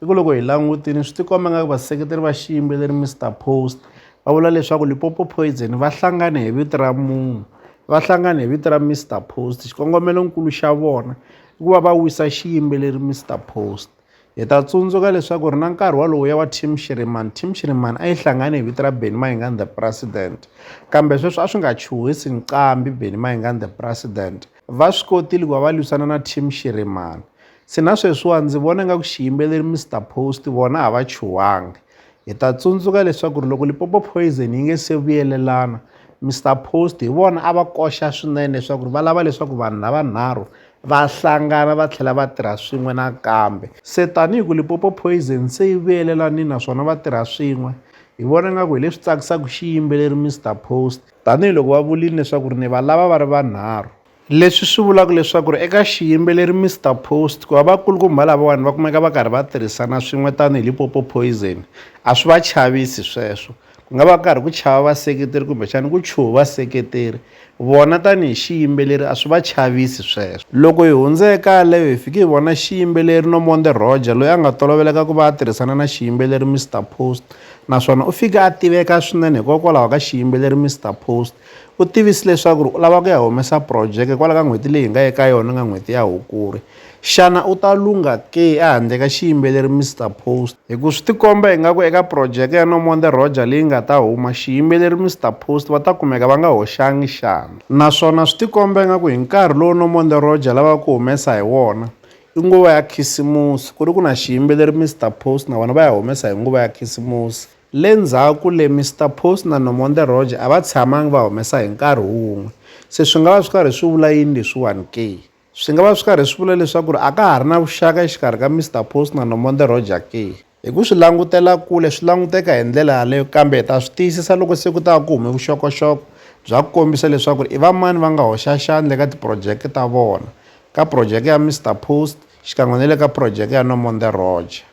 I ku loko hi langutile swi tikomba nga ku vaseketeri va xiyimbeleri Mister Post va vula leswaku Limpopo Poison va hlangane hi vito ra munhu va hlangane hi vito ra Mister Post xikongomelonkulu xa vona i ku va va wisa xiyimbeleri Mister Post hi ta tsundzuka leswaku ri na nkarhi walowo ya wa team shirimani team shirimani a yi hlangane hi vito ra benny mayingani the president kambe sweswi a swi nga chuhisi nqambi benny mayingani the president va swi kotile ku va va lwisana na team shirimani Se na sweswiwa ndzi vona nga ku xiyimbeleri Mr Post vona a va chuhangi. Hi ta tsundzuka leswaku loko Lipopo Poison yi nge se vuyelelana, Mr Post hi vona a va koxa swinene leswaku va lava leswaku vanhu lavanharhu va hlangana va tlhela va tirha swin'we nakambe. Se tanihi ku Lipopo Poison se yi vuyelelanile naswona va tirha swin'we, hi vona nga ku hi leswi tsakisaka xiyimbeleri Mr Post. Tanihi loko va vurile leswaku ni va lava va ri vanharhu. Leswi swi vulaka leswaku ri eka xiyimbeleri Mister Post ku va vakulukumba lavawani va kumeka va karhi va tirhisana swin'we tanihi Limpopo Poison a swi va chavisi sweswo ku nga va karhi ku chava vaseketeri kumbexana ku chuha vaseketeri vona tanihi xiyimbeleri a swi va chavisi sweswo loko hi hundze eka yaleyo hi fike hi vona xiyimbeleri Nomonde Roger loyi a nga toloveleka ku va a tirhisana na xiyimbeleri Mister Post naswona u fike a tiveka swinene hikokwalaho ka xiyimbeleri Mister Post U tivise leswaku u lava ku ya humesa phurojeke kwala ka n'hweti leyi hi nga eka yona nga n'hweti ya Hukuri. Xana u ta lungha ke ehandle ka xiyimbeleri Mister Post? Hi ku swi tikomba ingaku eka phurojeke ya No More The Roger leyi nga ta huma, xiyimbeleri Mister Post va ta kumeka va nga hoxangi xandla. Naswona swi tikomba ingaku hi nkarhi lowu No More The Roger lavaka ku humesa hi wona, i nguva ya khisimusi, ku ri ku na xiyimbeleri Mister Post na vona va ya humesa hi nguva ya khisimusi. Le ndzhaku le, Mister Post na Nomonde Roger a va tshamangi va humesa hi nkarhi wun'we. Se swi nga va swi karhi swi vula yini leswiwani ke? Swi nga va swi karhi swi vula leswaku a ka ha ri na vuxaka exikarhi ka Mister Post na Nomonde Roger ke? Hi ku swi langutela kule swi languteka hi ndlela yaleyo, kambe hi ta swi tiyisisa loko se ku ta va ku hume vuxokoxoko bya ku kombisa leswaku i vamani va nga hoxa xandla eka tiphurojeke ta vona, ka phurojeke ya Mister Post xikan'we ni le ka phurojeke ya Nomonde Roger.